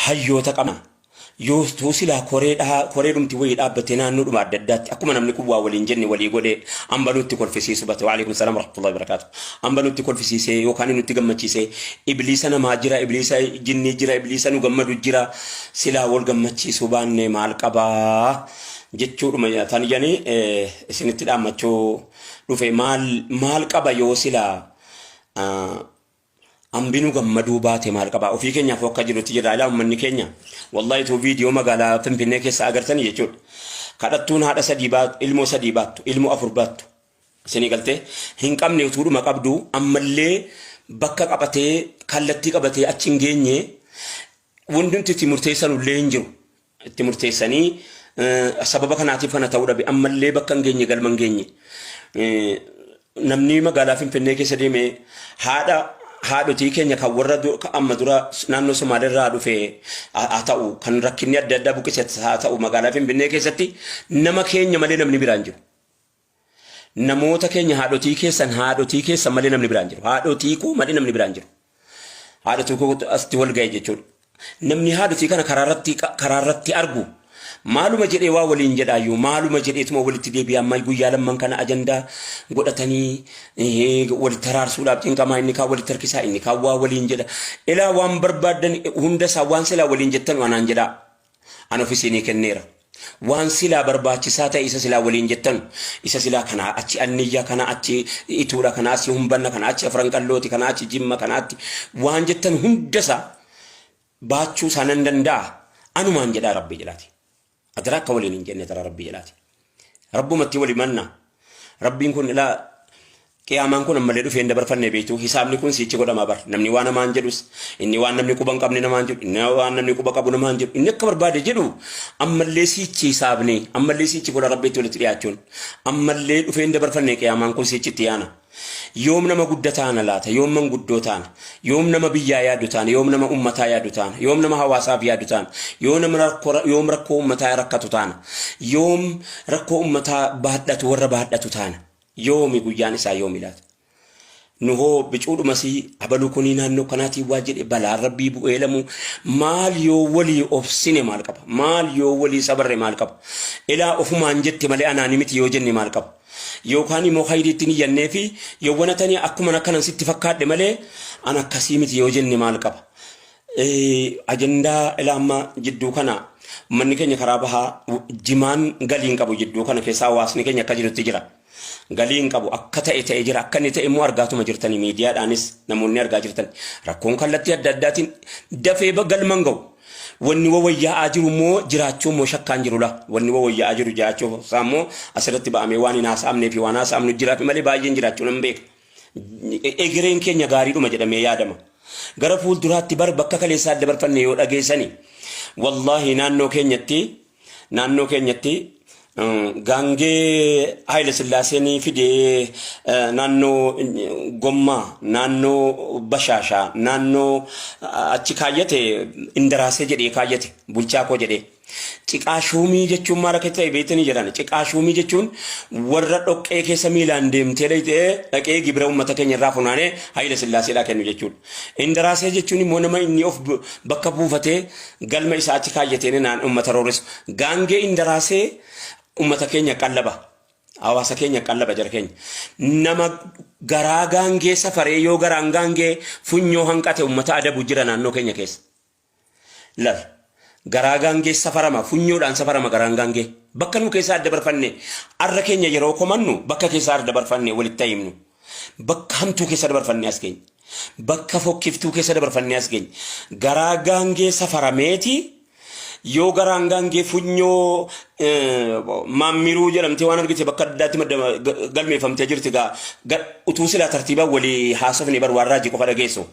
hayyoota qabna. Yoo tuu silaa koree dhaa- koree dhumti wayii dhaabbattee naannoo dhuma adda addaatti akkuma namni kun waa waliin jenne walii godhee amba nutti kolfisiisu bate waalaikum salaam warahmatullahi wabarakaatu amba nutti kolfisiisee yookaan inni nutti gammachiisee ibliisa namaa jira ibliisa jinnii jira ibliisa nu gammadu jira silaa wal gammachiisuu baannee maal qabaa jechuudhuma tan janii eh, isinitti dhaammachuu dhufe maal maal qaba yoo silaa ah, Ambinu gammaduu baate maal qaba ofii keenyaaf akka jirutti jirra ilaa ummanni keenya wallahi tuu viidiyoo magaalaa finfinnee keessa agartanii jechuudha kadhattuun haadha sadii baattu ilmoo sadii baattu ilmoo afur baattu isinii galtee hin qabne utuudhuma qabdu ammallee bakka qabatee kallattii qabatee achi hin geenye wandumti itti murteessanullee hin jiru itti murteessanii sababa kanaatiif kana ta'uu dhabe ammallee bakka hin geenye galma hin geenye namni magaalaa Finfinnee keessa deeme haadha haadhotii keenya kan warra amma dura naannoo Somaaleerraa dhufe haa ta'u kan rakkinni adda addaa buqqise haa ta'u magaalaa Finfinnee keessatti nama keenya malee namni biraan jiru. Namoota keenya haadhotii keessan haadhotii keessan malee namni biraan jiru. Haadhotii koo malee namni biraan jiru. Haadhotii koo asitti wal ga'e jechuudha. Namni haadhotii kana karaarratti karaarratti argu maaluma jedhee waa waliin jedhaayyuu maaluma jedheetuma walitti deebi'aa amma guyyaa lamman kana ajandaa godhatanii eh, walitti haraarsuudhaaf cinqamaa inni kaan walitti harkisaa inni kaan waa waliin jedha. Ilaa waan barbaaddan hunda isaa waan silaa waliin jettan anaan jedhaa. An of isinii kenneera. Waan silaa barbaachisaa ta'e isa silaa waliin jettanu, isa silaa kanaa achi anniyyaa, kanaa achi ituudha, kanaa achi humbanna, kanaa achi afran qallooti, kanaa achi jimma, kanaatti waan jettan hundasaa baachuu isaa nan danda'a. Anumaan jedhaa Rabbii jedhaati. Adaraa akka waliin hin jenne adaraa Rabbii jedhaati. Rabbumatti wal himanna. Rabbiin kun ilaa qiyaamaan kun ammallee dhufee hin dabarfanne beektu hisaabni kun siichi godhama bar namni waan namaan jedhus inni waan namni quba hin qabne namaan jedhu inni waan namni quba qabu namaan jedhu inni akka barbaade jedhu ammallee siichi hisaabni ammallee siichi fuula rabbiitti walitti dhiyaachuun ammallee dhufee hin dabarfanne qiyaamaan kun siichitti yaana Yoom nama gudda taana laata? Yoom manguddoo taana? Yoom nama biyyaa yaadu taana? Yoom nama ummataa yaadu taana? Yoom nama hawaasaaf yaadu taana? Yoo nam rakkoo yoom rakkoo ummataa rakkatu taana? Yoom rakkoo ummataa baadhatu warra baadhatu taana? Yoomi guyyaan isaa yoomi laata? Nu hoo bicuudhumasii abaluu kunii naannoo kanaatii waa jedhe balaan rabbii bu'ee lamuu maal yoo walii obsine maal qaba? Maal yoo walii sabarre maal qaba? Ilaa ofumaan jette malee anaani miti yoo jenne maal qaba? Yookaan immoo khayrii itti niyyannee fi yoo wana tani akkuman akkanan sitti fakkaadhe malee an akkasii miti yoo jenne maal qaba? Ajandaa ilaa amma jidduu kana manni keenya karaa bahaa jimaan galii hin qabu jidduu kana keessaa hawaasni keenya akka jirutti jira. Galii hin qabu akka ta'e ta'e jira akka inni ta'e immoo argaatuma jirtanii miidiyaadhaanis namoonni argaa jirtan rakkoon kallattii adda addaatiin dafee galman ga'u Wanni wawayya'aa jiru immoo jiraachuu immoo shakkaan jiru laa. Wanni wawayya'aa jiru jiraachuu isaa immoo asirratti ba'amee waan hin haasa'amnee fi waan haasa'amnu jiraafi malee baay'een jiraachuu nan beeka. Egereen keenya gaariidhuma jedhamee yaadama. Gara fuulduraatti bar bakka kaleessaa dabarfanne yoo dhageessani wallaahi naannoo keenyatti Naannoo keenyatti gaangee Haayila Sillaaseen fidee naannoo Gommaa, naannoo Bashaashaa, naannoo achi kaayyate Indaraasee jedhee kaayyate bulchaa koo jedhee. Ciqaa shuumii jechuun maal akka ta'e beektanii jedhan. Ciqaa shuumii jechuun warra dhoqqee keessa miilaan deemtee dhaqee gibira uummata keenya irraa funaanee Haayila Sillaaseedhaa kennu jechuudha. Indaraasee jechuun immoo nama inni of bakka buufatee galma isaa achi kaayyatee naan uummata rooresu. Gaangee Indaraasee uummata keenya qallaba. Hawaasa keenya qallaba jara keenya. Nama garaa gaangee safaree yoo garaan gaangee funyoo hanqate uummata adabu jira naannoo keenya keessa. Lal. Garaa gaangee safarama, funyoodhaan safarama garaan gaangee. Bakka nu keessaa adda barfanne arra keenya yeroo komannu bakka keessaa arda barfanne walitti haa himnu. Bakka hamtuu keessa dabarfannee as geenye. Bakka fokkiftuu keessa dabarfannee as geenye. Garaa gaangee safarameeti yoo garaan gaangee funyoo eh, maammiruu jedhamtee waan argite bakka addaatti madda ga- galmeeffamtee jirti gaa ga- utuu silaa tartiibaan walii haasofne bar waan raajii qofa dhageessu.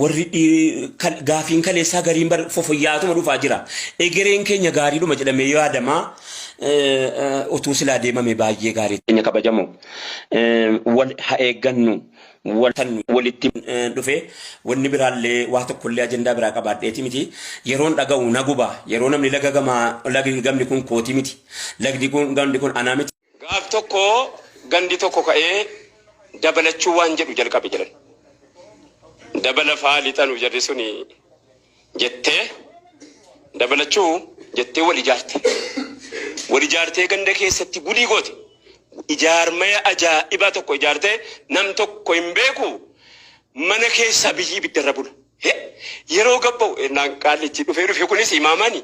warri gaafiin kaleessaa gariin bar fofoyyaatuma dhufaa jira. Egereen keenya gaariidhuma jedhamee yoo yaadamaa utuu silaa deemame baay'ee gaarii. Keenya kabajamoo wal ha eeggannu walitti dhufe wanni biraallee waa tokkollee ajandaa biraa qabaadheeti miti yeroon dhaga'u na guba yeroo namni laga gamaa lagni gamni kun kooti miti lagni kun gamni kun anaa miti. Gaaf tokko gandi tokko ka'ee dabalachuu waan jedhu jalqabe jedhan. Dabala faa lixanu jarri suni jettee dabalachuu jettee wal ijaarte. Wal ijaartee ganda keessatti gulii goote. Ijaarmaya ajaa'ibaa tokko ijaartee nam tokko hin beeku mana keessa biyyi ibiddarra bula. He! Yeroo gabba'u ennaan qaallichi dhufee dhufe kunis imaamani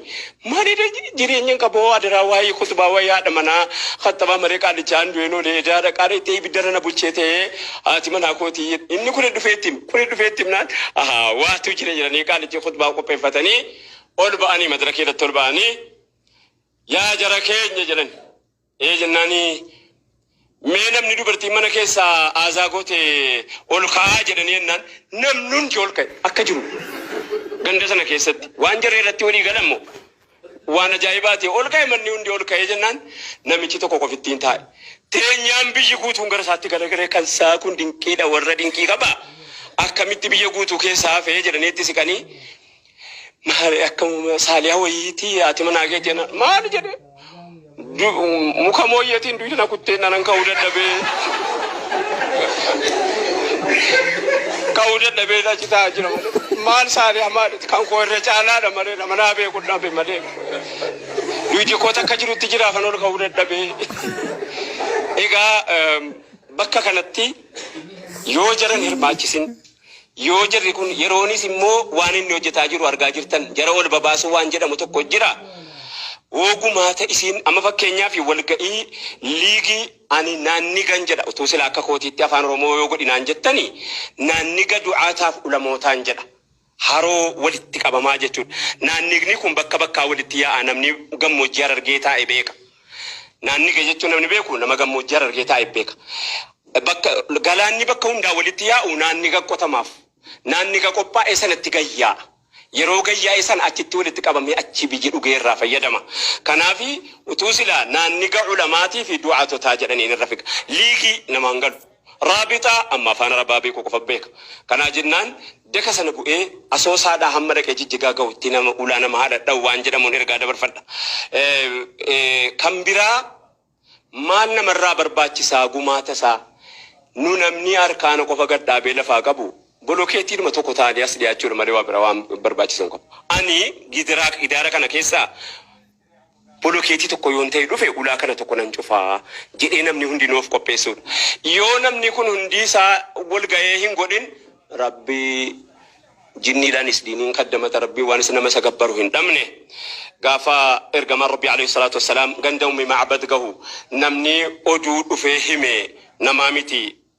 maal eda jireenyan qaba hoo adaraa waa'ee kutbaa waa'ee haadha manaa khattabaa malee qaallichaan du'een oole edaa dhaqaa dhayxee ibiddarra na bulchee ta'ee haati manaa kootii jedhe inni kuni dhufee itti hime kuni dhufee itti himnaan ahaa waatu jira jedhanii qaallichi khutbaa qopheeffatanii ol ba'anii madrakii irratti ol ba'anii yaa jara keenya jedhani Ee jennaani mee namni dubartiin mana keessa aazaa goote ol ka'aa jedhanii jennaan namni hundi ol ka'e akka jiru ganda sana keessatti waan jarri irratti walii galan moo waan ajaa'ibaati ol ka'e manni hundi ol ka'ee jennaan namichi tokko qofittiin taa'e teenyaan biyyi guutuun gara isaatti garagalee kan isaa kun dinqiidha warra dinqii qaba akkamitti biyya guutuu keessaa hafee jedhanii itti siqanii Maali akkamuma saaliyaa wayiiti ati manaa kee jennaan maali jedhe Du- muka mooyyeetiin duyda na kuttee nanan ka'uu dadhabee ka'uu dadhabee na citaa jira malee maal saaliyaa maali kan koo irra caalaadha malee nama naa beeku dhabe malee duydi koo takka jirutti jira kan ol ka'uu dadhabee egaa em, bakka kanatti yoo jaran hirmaachisin Yoo jarri kun yeroonis immoo waan inni hojjetaa jiru argaa jirtan jara ol babaasuu waan jedhamu tokko jira. Woo gumaata isiin amma fakkeenyaaf walga'ii liigii ani naan nigan jedha utuu sila akka kootiitti afaan oromoo yoo godhi naan jettani naan niga du'aataaf ulamootaan jedha haroo walitti qabamaa jechuudha. Naan nigni kun bakka bakkaa walitti yaa'a namni gammoojjii harargee taa'e beeka. Naannige jechuun namni beeku nama gammoojjii Harargee taa'e beeka. Bakka galaanni bakka hundaa walitti yaa'u naanniga qotamaaf. Naanniga qophaa'e sanatti gayyaa'a. Yeroo gayyaa'e sana achitti walitti qabamee achii biyyi dhugee irraa fayyadama. Kanaafi utuu silaa naanniga ulamaatiifi du'aatotaa jedhaniin irra figa. Liigii namaan galu. Raabixa, amma afaan Arabaa beeku qofa beeka. Kanaa jennaan daka sana bu'ee Asoosaadhaa hamma dhaqee Jijjigaa gahu itti nama ulaa nama haa dhadha'u waan jedhamuun ergaa dabarfadha. Kan biraa maal namarraa barbaachisaa gumaatasaa? Nu namni arkaana qofa gad dhaabee lafaa qabu bolokeettiidhuma tokko ta'anii as dhiyaachuudha malee waa biraa waan barbaachisan qabu. Ani gidiraa, idaara kana keessaa Bolokeetii tokko yoon ta'e dhufe ulaa kana tokko nan cufa jedhee namni hundinuu of qopheessuudha. Yoo namni kun hundii isaa wal ga'ee hin godhin Rabbi jinniidhaanis diiniin kaddamata Rabbiin waan isa nama isa gabbaru hin dhabne. Gaafa ergamaan Rabbii aleyhi salaatu wassalaam ganda ummi ma'bad gahu namni oduu dhufee hime namaa miti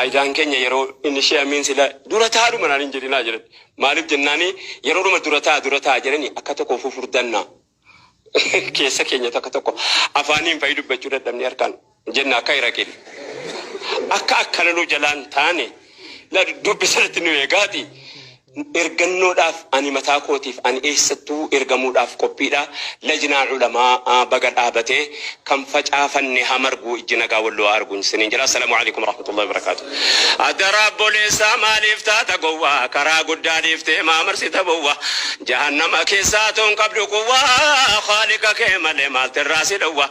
Aidaan keenya yeroo inni ishee amiin sila dura ta'a dhuma naan hin jedhinaa jedhan maaliif jennaani yeroo dhuma dura ta'a dura ta'a jedhani akka tokko ofuu furdannaa keessa keenya takka tokko afaaniin fa'i dubbachuu dadhabne harkaan jenna akka iraqin akka akkana nu jalaan taane la dubbi sanatti nu eegaati Ergannoodhaaf ani mataa kootiif ani eessattuu ergamuudhaaf qophiidha lajnaa ulamaa a baga dhaabate kan facaafanne haa margu ijji nagaa walloo haa argu isiniin jedha assalamu aleykum warahmatullahi wabarakatu adara abboleessaa maaliif taata gowwa karaa guddaa dhiiftee maa marsita bowwa jahannama keessaa toon qabdu quwwa khaaliqa kee malee maaltu irraa si dhowwa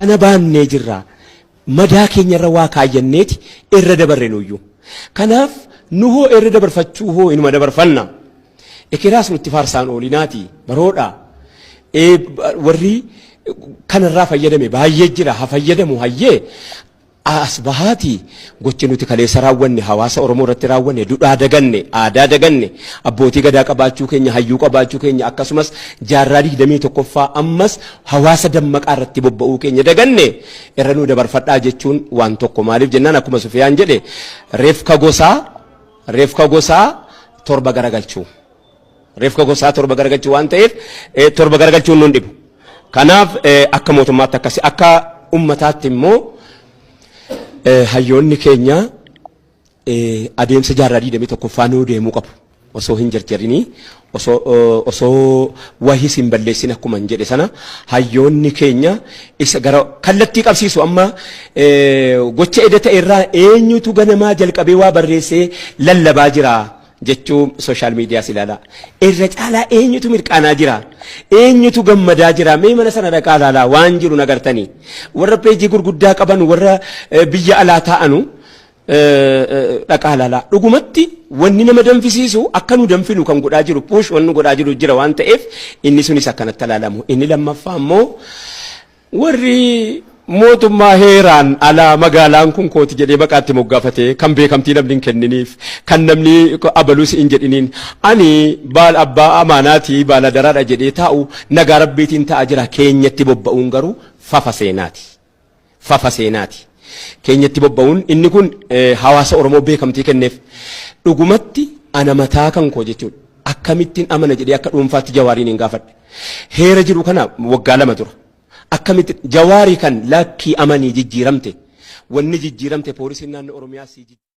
Kana baannee jirra. Madaa keenyarra waa kaayyanneeti irra dabarre nuyyuu. Kanaaf nuhoo irra dabarfachuu hoo inuma dabarfanna. Ekeraas nutti faarsaan oolinaati baroodha. Ee, ba- Warri kanarraa fayyadame baay'ee jira ha fayyadamu hayyee A. As bahaatii gochi nuti kaleessa raawwanne hawaasa Oromoo irratti raawwane dudhaa daganne, aadaa daganne, abbootii gadaa qabaachuu keenya, hayyuu qabaachuu keenya akkasumas jaarraa 21ffaa ammas hawaasa dammaqaa irratti bobba'uu keenya daganne irra nuu dabarfadhaa jechuun waan tokko maaliif jennaan akkuma Sufiyaan jedhe refka gosaa, refka gosaa torba garagalchuu. Reefka gosaa torba garagalchuu waan ta'eef torba garagalchuun nun dhibu. Kanaaf akka mootummaatti akkasi akka ummataatti immoo hayyoonni keenya adeemsa jaarraa 21ffaa nuu deemuu qabu. Osoo hin jarjarinii osoo osoo wahis hin balleessin akkuma hin jedhe sana hayyoonni keenya isa gara kallattii qabsiisu amma gocha eda ta'e irraa eenyutu ganamaa jalqabee waa barreessee lallabaa jira jechuu social medias ilaalaa. Irra caalaa eenyutu mirqaanaa jira? Eenyutu gammadaa jira? Mee mana sana dhaqaa ilaalaa waan jiru nagartanii. Warra peejii gurguddaa qaban warra eh, biyya alaa taa'anu eh, eh, dhaqaa ilaalaa. Dhugumatti wanni nama danfisiisu akka nu danfinu kan godhaa jiru puush wanni godhaa jiru jira waan ta'eef inni sunis akkanatti ilaalamu. Inni lammaffaa immoo Warri mootummaa heeraan alaa magaalaan kun kooti jedhee maqaa itti moggaafate kan beekamtii namni hin kenniniif kan namni abalus hin jedhiniin ani baal abbaa amaanaatii baal adaraadha jedhee taa'u nagaa rabbiitiin ta'a jira keenyatti bobba'uun garuu fafa seenaati. Fafa seenaati. Keenyatti bobba'uun inni kun eh, hawaasa Oromoo beekamtii kenneef dhugumatti ana mataa kan koo jechuudha. Akkamittiin amana jedhee akka dhuunfaatti jawaariin hin gaafadhe. Heera jedhu kana waggaa lama dura akkamitti Jawaari kan lakkii amanii jijjiiramte wanni jijjiiramte poolisiin naannoo Oromiyaa si